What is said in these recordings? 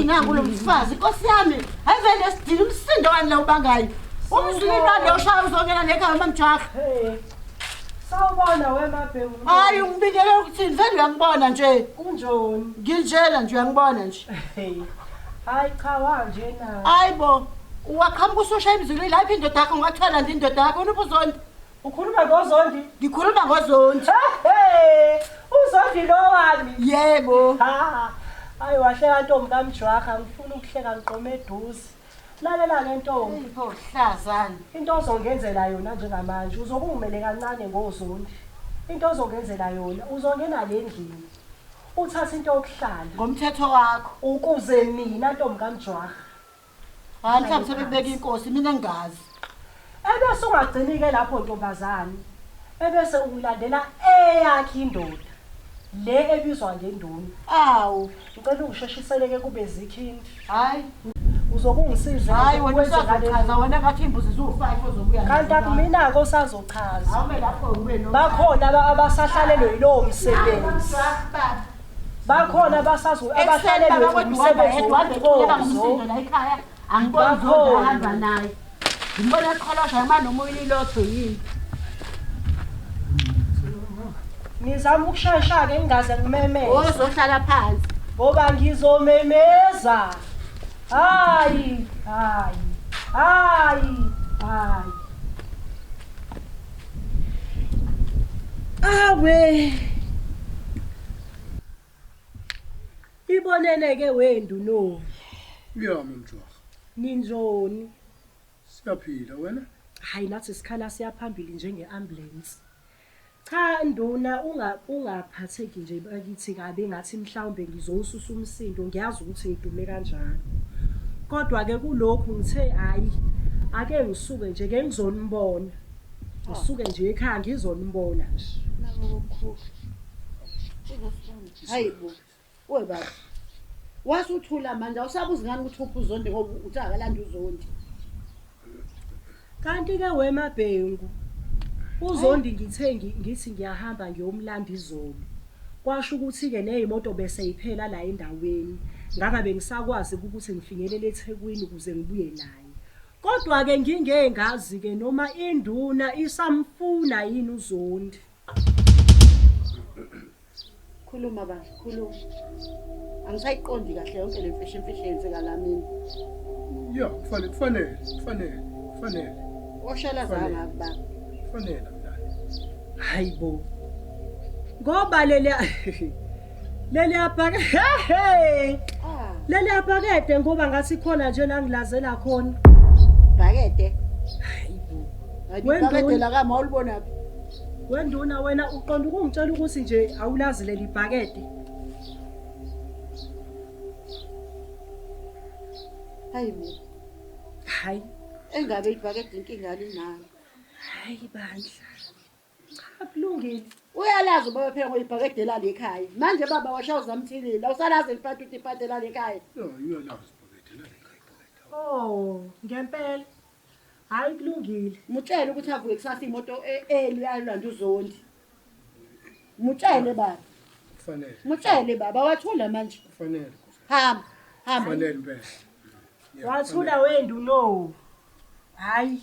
inangu lo mfazi nkosi yami hayi vele esidini umsindo wani la ubangayo umzwini lwani loshaya uzongena nekhaya mamjaha Sawubona wemabhemu. Hayi ungibikele ukuthini? Vele uyangibona nje. Kunjoni? Nginjena nje uyangibona nje. Hayi cha wanje na. Hayi bo. Waqhamuka ususha emzulwini la iphi indoda yakho ungathwala nje indoda yakho unuphi uzondi. Ukhuluma ngozondi? Ngikhuluma ngozondi. Hey! Uzondi lo wami. Yebo. Ha. Hayi wahleka ntombi kamjwaha ngifuna ukuhleka ngiqome eduze. Lalela ke ntombi. Pho hlazani. Into ozongenzela yona njengamanje uzokungimele kancane ngozondi. Into ozongenzela yona uzongena le ndlini. Uthatha into yokuhlala. Ngomthetho wakho. Ukuze mina ntombi kaMjwara. Hayi mhlawumbe sebekubeka inkosi mina engazi. Ebese ungagcini ke lapho ntombazane ebese ulandela eyakhe indoda le ebizwa ngenduna. Awu. Ngicela ungisheshisele ke kube zikhindi. Hayi. Uzokungisiza. Hayi wena usazochaza wena ngathi imbuzi ziwu-5 ozobuya. Kanti akumina-ke osazochaza. Awume lapho ubuye no. Bakhona aba- abasahlalelwe yilowo msebenzi. Bakhona abasazo- abahlalelwe umsebenzi womthozo. Bakhona. Ngimbona eqholosha noma noma uyilotho yini. Ngizama ukushayisha ke ngingaze ngimemeze. Ozohlala phansi. Ngoba ngizomemeza. Hayi, hayi. Hayi, hayi. Awe. Ibonene-ke we Ndunoni. Uyami mjwaha. Ninjoni? Siyaphila, wena? Hhayi nathi sikhala siya phambili njenge-ambulensi. Cha Nduna unga ungaphatheki nje bakithi kabi ngathi mhlawumbe ngizowususa umsindo ngiyazi ukuthi ngidume kanjalo. Kodwa ke kulokhu ngithe hayi ake ngisuke nje ke ngizonibona. Ngisuke nje ekhaya ngizonibona nje. Nabo bokukhulu. Hayibo. Oy baba. Wasuthula manje awusabuzi ngani ukuthi uphi uzondi ngoba uthi akalanda uzondi. Kanti ke wemabhengu uzondi ngithe ngi- ngithi ngiyahamba ngiyomlanda izolo. Kwasho ukuthi ke nezimoto bese iphela la endaweni. Ngaba bengisakwazi ukuthi ngifinyelele eThekwini ukuze ngibuye naye. Kodwa ke ngingengazi ke noma induna isamfuna yini uzondi. Khuluma bandla, khuluma. Angisayiqondi kahle yonke le mfihlo imfihlo eyenzeka la mina. Ya, kufanele kufanele kufanele kufanele Oshala Fanele. zanga baba. kufanele mntana. Hayibo. Ngoba leli Leli abhake he he. Ah. Leli abhakede ngoba ngathi khona nje la ngilazela khona. Bhakede. Wendibhakede la kama ulibona phi? Wenduna wena uqonda ukungitshela ukuthi nje awulazi leli bhakede. Hayi mina. Hayi. Engabe ibhakede inkinga linayo. Hayi bandla. Akulungile. Uyalazi ubaba phela ngoyibhakede lali ekhaya. Manje baba washa uzamthilile. Awusalazi elipati ukuthi ipati lali ekhaya. Yo, uyalazi ibhakede lali ekhaya ibhakede. Oh, ngempela. Hayi kulungile. Mutshele ukuthi avuke kusasa imoto e- early ayolanda uzondi. Mutshele baba. Kufanele. Mutshele baba wathula manje. Kufanele. Nkosi. Hamba. Hamba. Kufanele impela. Yeah, Wathula wendu no. Hayi.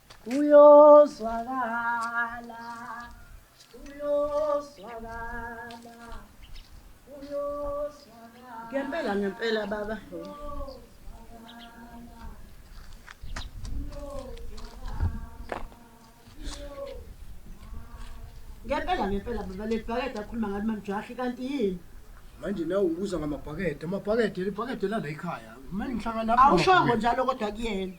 Uyozwakala, uyozwakala, uyozwakala. Ngempela ngempela baba. Ngempela ngempela baba le bhakede akhuluma ngalo mamjahi kanti yini? Manje nawe ubuza ngamabhakede, amabhakede libhakede lala ekhaya. Manje ngihlangana lapho. Awushongo njalo kodwa kuyena.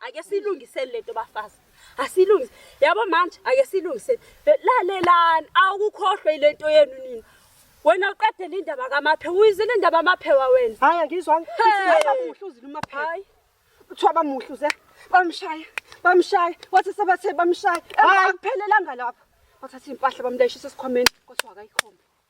ake silungiseni lento bafazi asilungise yabo manje ake silungiseni lalelani awukukhohlwe ilento yenu nina wena uqedele indaba kamaphe uyizile indaba amaphewa wena hayi angizwa ngithi uzile umaphe hayi kuthiwa bamuhle uze bamshaya bamshaya wathi sebathe bamshaya akuphelelanga lapho bathatha impahla bamlayishisa esikhwameni kodwa akayikhombe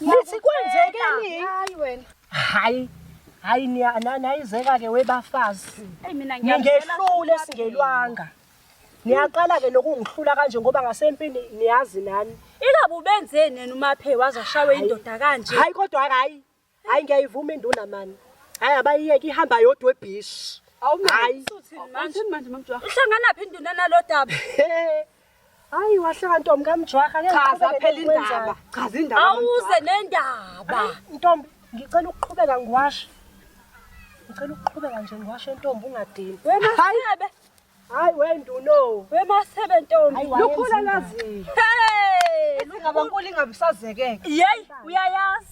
Nithi kwenzekeni? Hayi wena. Hayi. Hayi niyayizeka ke webafazi. Ningehlule singelwanga. Niyaqala ke nokungihlula kanje ngoba ngasempini niyazi nani. Ingabe ubenzeni nina umaphe wazashawe indoda kanje? Hayi kodwa hayi. Hayi ngiyayivuma induna mani. Hayi abayiyeke ihamba yodwa ebhishi. Awumayi. Uhlangana phi induna nalodaba? Hayi wahleka ntombi kamjwaha ngeke Chaza ngiqhubeke phela indaba. nokwenzayo. Chaza indaba. Awuze nendaba. Ntombi ngicela ukuqhubeka ngiwashe. Ngicela ukuqhubeka nje ngiwashe ntombi ungadini. Wemasebe. Hayi wenduno. Wemasebe ntombi. Hayi, Lukhula wayenza laziyo. Hey! Ingabankulu ingabisazekeke. Yey, uyayazi.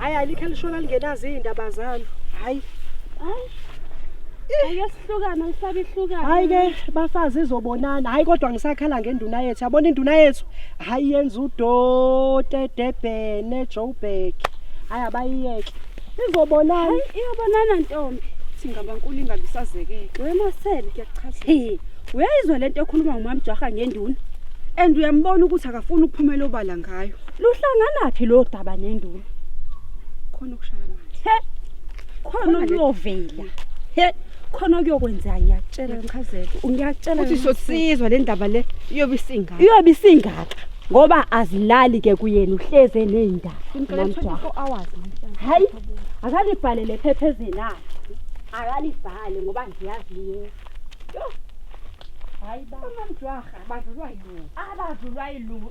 hayi alikho elishola lingenazo iy'ndaba zalo hayi hayi Ake sihlukane usabe ihlukane. Hayi ke bafazi izobonana. Hayi kodwa ngisakhala ngenduna yethu. Yabona induna yethu. Hayi yenza udote debhene Joburg. Hayi abayiyeke. Izobonana. Hayi iyobonana ntombi. Singabankulu ingabisazekeke. Wemasele kuyachaza. Hey, uyayizwa lento ekhuluma ngumamjaha ngenduna. And uyambona ukuthi akafuni ukuphumela obala ngayo. luhlanganaphi lo daba nenduna khona ukushaya manje he khona luyovela he khona kuyokwenzeka ngiyakutshela ngichazela ngiyakutshela ukuthi sosizwa le ndaba le iyobe isingaka iyobe isingaka ngoba azilali ke kuyena uhleze nezindaba hayi akalibhale lephephezeni akhe akalibhale ngoba ngiyazi yena hayi bamamjwaha abadlulwa yilungu abadlulwa yilungu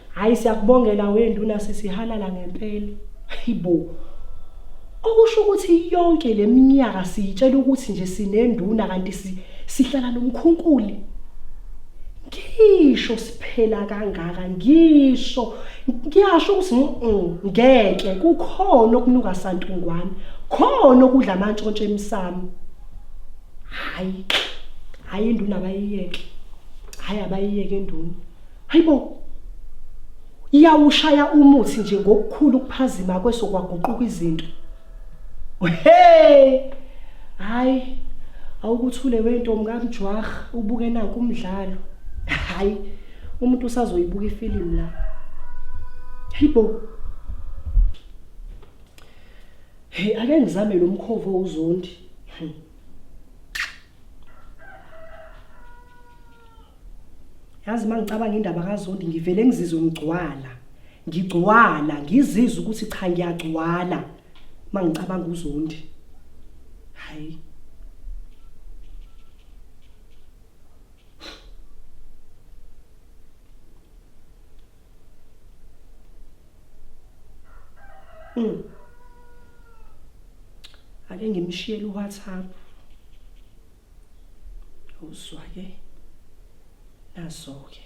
Hayi siyakubongela wenduna sisihalala ngempela. Hayibo. Okusho ukuthi yonke leminyaka siyitshela ukuthi nje sinenduna kanti sihlala nomkhunkuli. Ngisho siphela kangaka ngisho ngiyasho ukuthi mm, mm, ngeke kukhona okunuka santungwane khona okudla amantshontshe emsamo. Hayi. Hayi induna bayiyeke. Hayi abayiyeke induna. Hayibo. Iyawushaya umuthi nje ngokukhulu ukuphazima kweso kwaguquka izinto. Hey! Hayi. Awukuthule wento mkamjwah ubuke naku umdlalo. Hayi. Umuntu usazoyibuka ifilimu la. Hayibo. Hey ake ngizame lo mkhovo uzondi. Hmm. yazi uma ngicabanga indaba kazondi ngivele ngizizwe ngigcwala ngigcwala ngizizwe ukuthi cha ngiyagcwala uma ngicabanga uzondi hayi Mm. Ake ngimshiyele uWhatsApp. uzwa ke nazo ke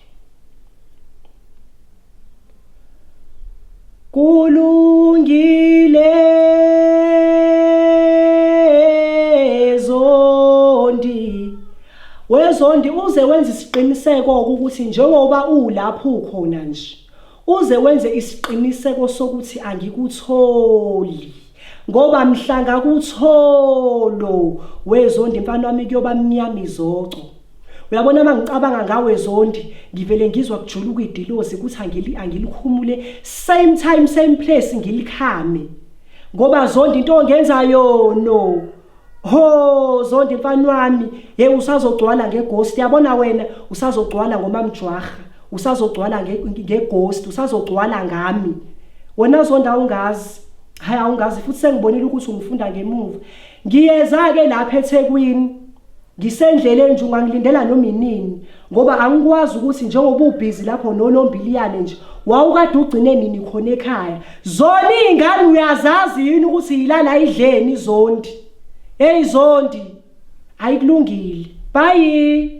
kulungile zondi wezondi uze wenza isiqiniseko ukuthi njengoba ulapho ukhona nje Uze wenze isiqiniseko sokuthi angikutholi. Ngoba mhlanga kutholo wezondi mfana wami kuyoba mnyama izoco. Uyabona mangicabanga ngawe zondi ngivele ngizwa kujuluka idilozi ukuthi angili angilikhumule same time same place ngilikhame. Ngoba zondi into ongenzayo no. Ho Zondi mfana wami hey usazogcwala ngeghost yabona wena usazogcwala ngomamjwaha usazogcwala ngeghost usazogcwala ngami wena Zondi awungazi hayi awungazi futhi sengibonile ukuthi ungifunda ngemuva ngiyeza ke lapha eThekwini ngisendleleni nje ungangilindela noma inini ngoba angikwazi ukuthi njengoba ubhizi lapho nonombiliyane nje wawukade ugcine nini khona ekhaya zona iy'ngane uyazazi yini ukuthi yilala idleni zondi heyi zondi ayikulungile bayi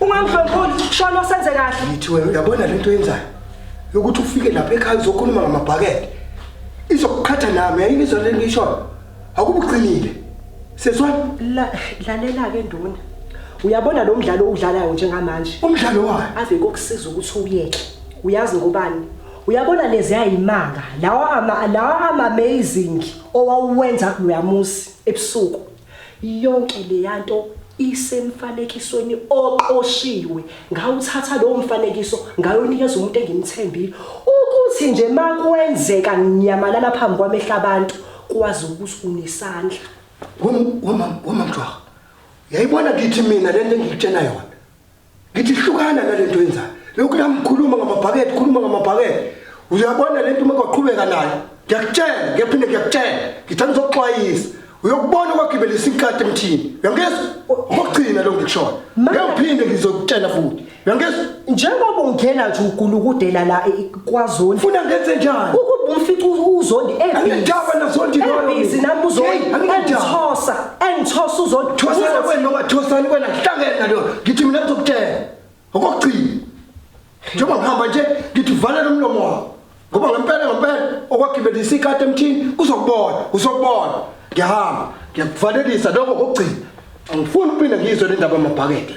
Ungamdlonkholi shona senze kahle. Ngithi wena uyabona lento yenzayo yokuthi ufike lapha ekhaya uzokhuluma ngamabhakede. Izokuqhatha nami yayini izolo lento ishoyo. Akubuqinile. Sezwa La- Lalela ke nduna. Uyabona lo mdlalo owudlalayo njengamanje. umdlalo wayo. ave kokusiza ukuthi uyeke uyazi ngobani uyabona lezi ayimanga lawa ama lawa ama amazing owawuwenza kuloyamuzi ebusuku Yonke leyanto isemfanekisweni oqoshiwe. Ngawuthatha lowo mfanekiso ngayowunikeza umuntu engimthembile ukuthi nje makwenzeka nginyamalala phambi kwamehlo abantu kwazi ukuthi unesandla. Wamamjwaha, yayibona kithi mina lento engikutshela yona. Ngithi hlukana nalento yenzayo. Lokhu la ngikhuluma ngamabhakede, khuluma ngamabhakede. Uyabona lento uma kwaqhubeka nayo. Ngiyakutshela, ngiyaphinde ngiyakutshela. Ngithanda uzoxwayisa. Uyokubona kwagibelisa inkati emthini. Uyangizwa? Ngokugcina lo ngikushoyo. Ngiyaphinde ngizokutshela futhi. Uyangizwa? Njengoba ungena nje ugulukudela la kwazondi funa ngenze njani ukuba umfica uzondi ebhizinendaba nazondi ebhizinendaba nami uzondi engithosa engithosa uzondi thosana wena noma thosani wena hlangene nalo ngithi mina ngizokutshela okokugcina njengoba ngihamba nje ngithi vala lo mlomo wakho ngoba ngempela ngempela okwagibelisa ikati emthini uzokubona uzokubona ngiyahamba ngiyakuvalelisa lokho kokugcina angifuni ukuphinde ngizwe le ndaba amabhakede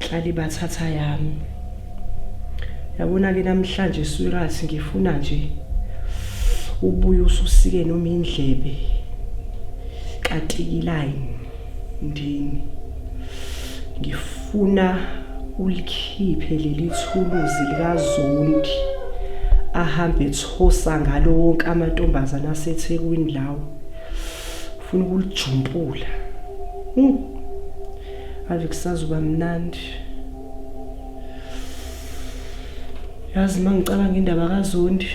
Hlali bathatha yami. Yabona ke namhlanje sweetheart ngifuna nje ubuye ususike noma indlebe katikiline ndini. Ngifuna ulikhiphe leli thuluzi likazondi ahambe ethosa ngalo wonke amantombazana asethekwini lawo. Ufuna ukulijumpula. Mm. ave kusazoba mnandi yazi uma ngicabanga indaba kazondi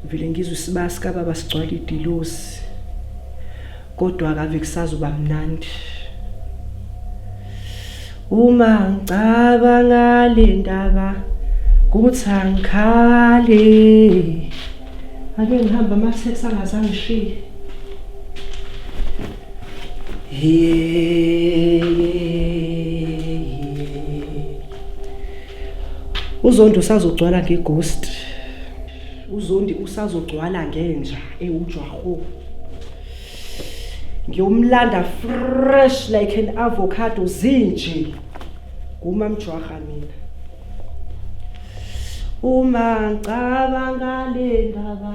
vele ngizwe isibaya sikababa sigcwala idilosi kodwa kave kusazoba mnandi uma ngicabanga le ndaba kuthi angikhale ake ngihamba amatheksi angazangishiye uzondi usazogcwala ngeghost uzondi usazogcwala ngenja ewujwaho ngiyomlanda fresh like an avocado zinje ngumamjwaha mina uma ngicabanga le ndaba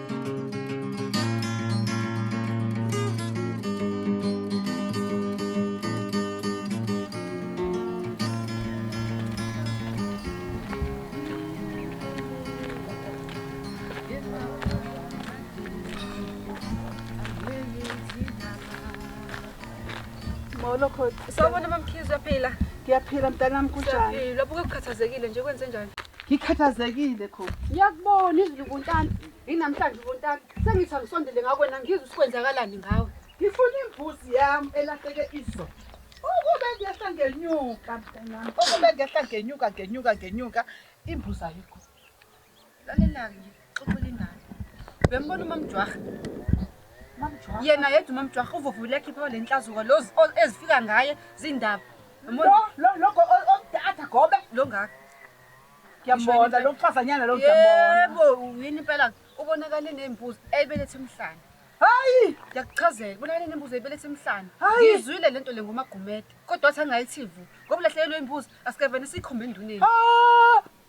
Molo khona. Sawubona mamkhizi uyaphila? Ngiyaphila mntanami kunjani? Uyaphila. Lapho kukhathazekile nje kwenze njani? ngikhathazekile khona ngiyakubona izulu ubuntana yinamhlanje ubuntana sengithi angisondele ngakwena ngizwe sikwenzakalani ngawe ngifuna imbuzi yami elahleke izo ukube ngehla ngenyuka mntanami ukube ngehla ngenyuka ngenyuka ngenyuka imbuzi ayikho lalelani Xoxela ingane. Uyambona uMamjwah? Mamjwah. Yena yedwa uMamjwah uvuvule akhipha le nhlazuko lo ezifika ngaye zindaba. Lo lo lo odatha gobe lo ngaka. Ngiyambona lo mfazanyana lo ngiyambona. Yebo, yini impela ubonakale nezimbuzi ebelethe emhlanje. Hayi! Ngiyakuchazela, ubonakale nezimbuzi ebelethe emhlanje. Ngizwile lento le ngomagumede, kodwa wathi angayithivu. Ngoba ulahlekelwe imbuzi, asike vele sikhombe enduneni. Ah!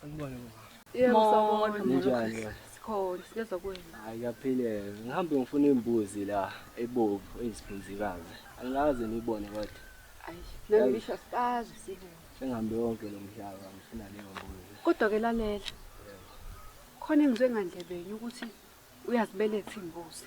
Sanibona mama. Yebo sawubona. Ninjani? Sikhona siyeza kuwena. Hayi kaphilele. Ngihambe ngifuna imbuzi la ebovu eziphunzikazi. Angazi nibone kodwa. Ayi, nami ngisho sibazi sibona. Sengihambe wonke lo mhlaba ngifuna leyo mbuzi. Kodwa ke lalela. Khona engizwe ngandlebenye ukuthi uyazibeletha imbuzi.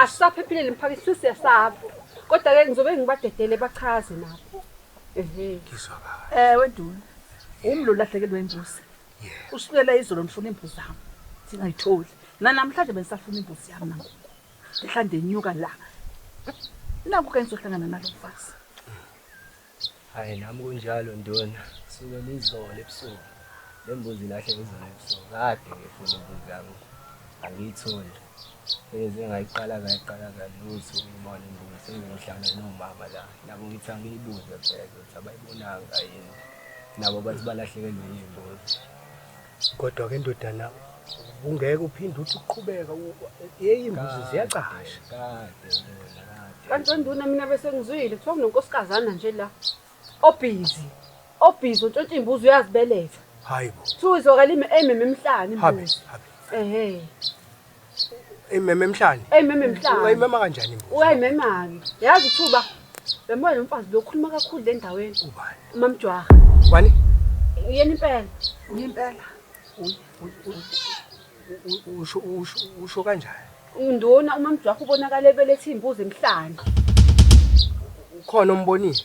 asisaphephile nemphakathi sesiyasaba kodwa ke ngizobe ngibadedele bachaze nabo ewe nduna umlo ulahlekelwe imbuzi usukela izolo ndifuna iimbuzi zam ndingayitholi nanamhlanje bendisafuna imbuzi yam nangoku ndihla ndenyuka la naku ke ndizohlangana nalo mfazi Hayi nami kunjalo nduna, suke lizolo ebusuku. Le mbuzi ilahle izolo ebusuku. Kade ngifuna imbuzi yami angiyitholi. Bengeze ngayiqala ngayiqala kalutho ukuyibona imbuzi sengiyohlala nomama la. Nabo ngithi angiyibuze phela ukuthi abayibonanga yini. Nabo bathi balahlekelwe yimbuzi. Kodwa ke ndodana ungeke uphinde uthi uqhubeka yeyi imbuzi ziyacasha. Kanti wenduna mina bese ngizwile kuthiwa kunonkosikazi nje la obhizi obhizi ontshontsha imbuzi uyazibeletha. Hayibo. Kuthiwa izwakala ime emhlane imbuzi. Ehe. Eyimeme emhlane. Eyimeme emhlane. Wayimema kanjani imbuzi? Wayimemani? Yazi ithuba. Bembola nomfazi lo khuluma kakhulu le ndaweni. Ubani? Umamjwaha. Ubani? Uyena impela. Uyimpela. Usho usho usho kanjani? Unduna umamjwaha ubonakala ebelethe imbuzi emhlane. Ukhona ombonile?